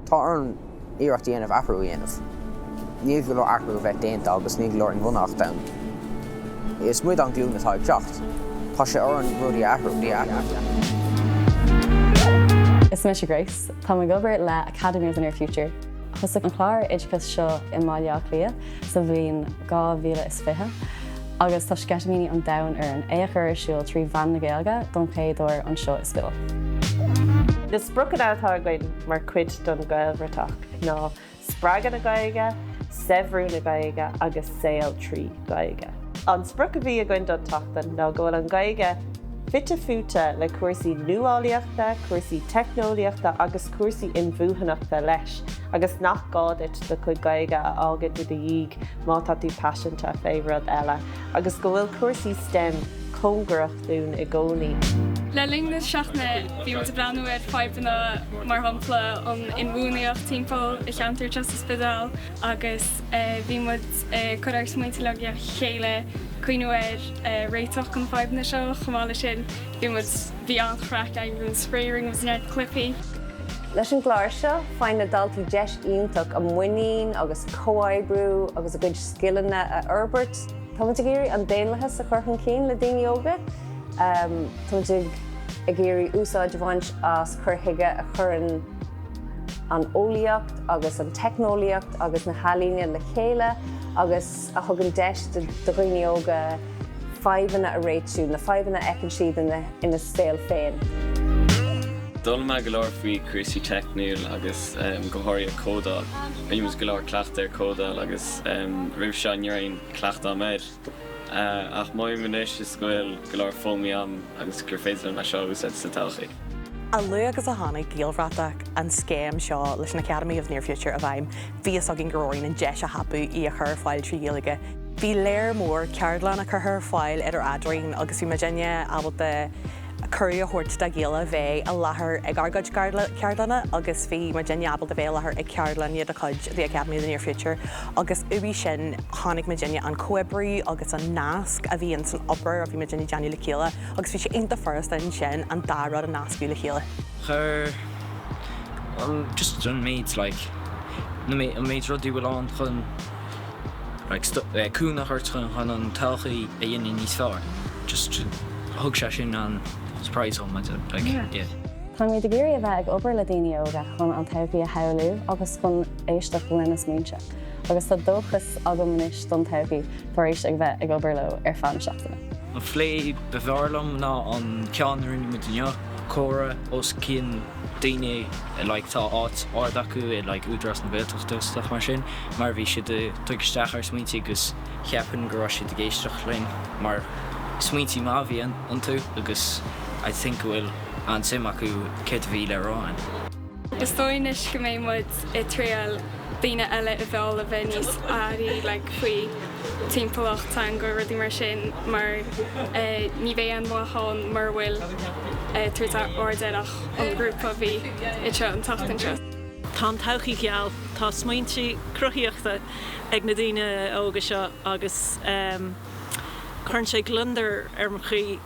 Tá orainn iarracht a dhéanamh athrú a dhéanamh. Níl go leor athrú a bheith déanta agus níl go leor inbhuanaitheachta ann. Is muid an glúin atá ag teacht. Tá sé orainn rudaí a athrú. Is mise Grace. Táim ag obair le Academy of the Near Future. Thosaigh an clár oideachais seo i mBaile Átha Cliath sa bhliain 2020. Agus tá sceitimíní an domhain orainn é a chur ar siúl trí mheán na Gaeilge don chéad uair anseo i Stiúb. Na spriocanna atá againn mar chuid don Gaelbhratach ná spreagadh na Gaeilge, saibhriú na Gaeilge agus saol trí Ghaeilge. An sprioc a bhí againn don tseachtain ná go bhfuil an Ghaeilge fite fuaite le cúrsaí nuálaíochta, cúrsaí teicneolaíochta agus cúrsaí inbhuanaitheachta leis agus nach gá duit do chuid Gaeilge a fhágaint i do dhiaidh Má tá tú paiseanta fé rud eile, agus go bhfuil cúrsaí stem cóngarach dúinn i gcónaí, Le linn na seachtaine, bhí muid ag breathnú ar fadhbanna, mar shampla an inbhuanaitheacht timpeall an cheantair atá sa Spidéal, agus bhí muid ag cur ár smaointe le chéile cuimhniú ar réitigh chun na fadhbanna seo. Chomh maith le sin, bhí muid, bhí an-chraic againn, bhí muid spraoi, rinne muid neart cluichí. Leis an gclár seo, faigheann na daltaí deis iontach a muinín agus comhoibriú agus a gcuid scileanna a fhorbairt. Táimid ag iarraidh an daonlathas a chur chun cinn le daoine óga. Táimid ag iarraidh úsáid a bhaint as cur chuige a chuireann an eolaíocht agus an teicneolaíocht agus na healaíne le chéile agus, a thugann deis do dhaoine óga fadhbanna a réitiú, na fadhbanna a fheiceann siad ina saol féin. D'fhoghlaim mé go leor faoi cúrsaí teicniúil agus go háirithe códáil. Rinneamar go leor cleachtadh ar códáil agus roimh seo ní raibh aon chleachtadh agam air. Ach an méid anois go bhfuil go leor foghlamtha agam agus gur féidir liom é seo a úsáid sa todhchaí. A luaithe agus a tháinig Gaelbhratach, an scéim seo leis an Academy of Near Future, i bhfeidhm, bhí fhios againn go raibh orainn an deis a thapú í a chur ar fáil trí Ghaeilge. Bhí léar mór ceardlanna curtha ar fáil idir eadrainn agus bhí muid ábalta cuireadh a thabhairt dá chéile bheith i láthair ag ár gcuid ceardlanna agus bhí muid ábalta bheith i láthair ag ceardlanna de chuid The Academy of the Near Future agus uaidh sin chonaic muid an comhoibriú agus an nasc a bhí ins an obair a bhí muid ag déanamh le chéile. agus bhí sé iontach furasta ansin an dá rud a nascadh le chéile. Chuir an just an méid like na an méid rudaí a bhfuil ann chun like cúnamh a thabhairt chun chun an todhchaí a dhéanamh níos fearr just thug sé sin an surprise dhom I don't like yeah. Táimid ag iarraidh a bheith ag obair le daoine óga chun an todhchaí a shamhlú agus chun éisteacht lena smaointe. agus tá dóchas agam anois don todhchaí tar éis a bheith ag obair leo ar feadh na seachtaine. An phlé ba bhfearr liom ná an ceann a rinne muid inniu, comhrá os comhair daoine a like tá áit ard acu i like Údarás na Gaeltachta stuff mar sin mar bhí siad ag tógáil isteach ár smaointí agus ceapaim go raibh siad ag éisteacht linn mar smaointí maithe a bhí iontu agus I think go bhfuil an-suim acu céard a bhí le rá againn Is dóigh liom anois go mbeidh muid ag triail daoine eile a mhealladh a bheith níos airí like faoi timpeallacht, teanga, rudaí mar sin mar ní bheidh aon mhaith ann mura bhfuil ag tabhairt aird air ach an grúpa a bhí anseo an tseachtain seo. Tá an todhchaí geal, tá smaointí cruthaíochta ag na daoine óga seo agus cuireann sé gliondar ar mo chroí.